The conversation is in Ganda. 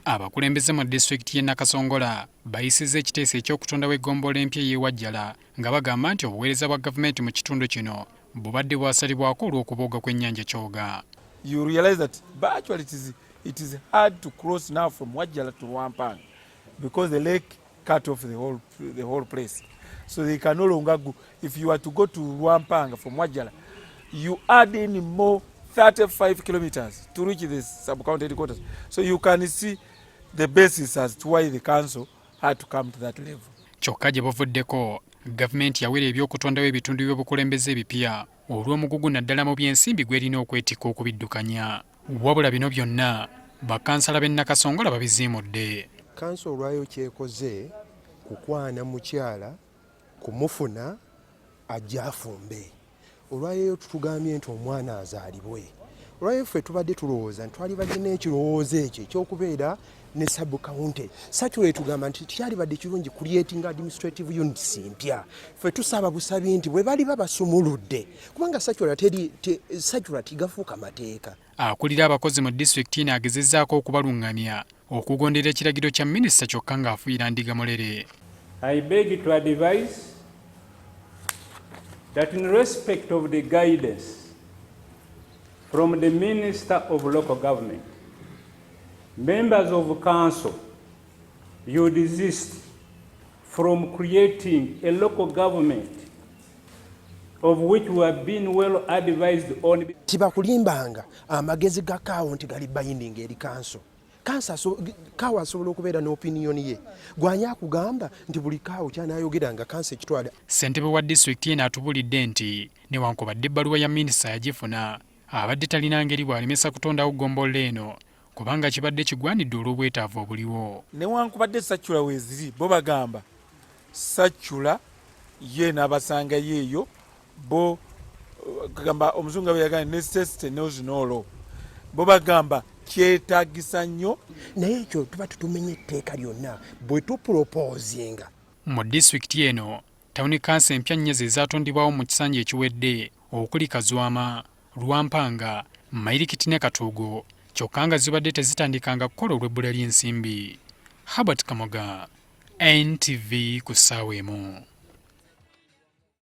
Abakulembeze mu disitulikiti y'e Nakasongola bayisizza ekiteeso eky'okutondawo eggombolola empya ey'e Wajjala nga bagamba nti obuweereza bwa gavumenti mu kitundu kino bubadde bwasalibwako olw'okubooga kw'ennyanja Kyoga. You realize that virtually it is, it is hard to cross now from Wajjala to Wampanga because the lake cut off the whole, the whole place so they can no longer go if you are to go to Rwampanga from Wajala you add in more 35 kilometers to reach the sub-county headquarters so you can see the basis as to why the council had to come to that level kyokka gye buvuddeko gavumenti yawera ebyokutondawo ebitundu by'obukulembeze ebipya olw'omugugu naddala mu by'ensimbi gw'erina okwetikka okubiddukanya Wabula bino byonna bakansala b'e Nakasongola babiziimudde. Kkanso olwayo ky'ekoze kukwana mukyala kumufuna ajje afumbe. Olwayo tutugambye nti omwana azaalibwe. Olwayo ffe tubadde tulowooza nti twali balina ekirowoozo ekyo eky'okubeera ne sub county satura etugamba nti kyalibadde kirungi creating administrative units mpya fe tusaba busabi nti bwe bali babasumuludde kubanga satura teri te, satura tigafuuka mateeka akulira abakozi mu disitulikiti ino agezezaako okubalungamya okugondera ekiragiro kya minisita kyokka ng'afuuyira ndiga mulere I beg to advise that in respect of the guidance from the Minister of Local Government Members of council, you desist from creating a local government of which we have been well advised on. Tibakulimbanga amagezi ga kaawo nti gali binding eri kanso kansa so, kaawo asobola okubeera n'opiniyoni ye gwanya akugamba nti buli kaawo kyanayogera nga kansa ekitwala. Ssentebe wa disitulikiti eno atubulidde nti newankubadde ebbaluwa ya minisita yagifuna abadde talina ngeri bw'alemesa kutondawo ggombolola eno kubanga kibadde kigwanidde olw'obwetaavu obuliwo. Newankubadde saccula weeziri bo bagamba saccula ye n'abasangayo eyo bo gamba omuzungu nga bwe yagambye necessity knows no law bo bagamba kyetagisa nnyo naye ekyo tuba tutumenye etteeka lyonna bwe tupulopozinga mu disitulikiti eno tawuni kansa empya nnya ze zaatondebwawo mu kisanja ekiwedde okuli Kazwama, Lwampanga, Mayirikiti ne Katuugo kyokka nga zibadde tezitandikanga kukola olw'ebbula ly'ensimbi. Herbert Kamoga, NTV ku ssaawa emu.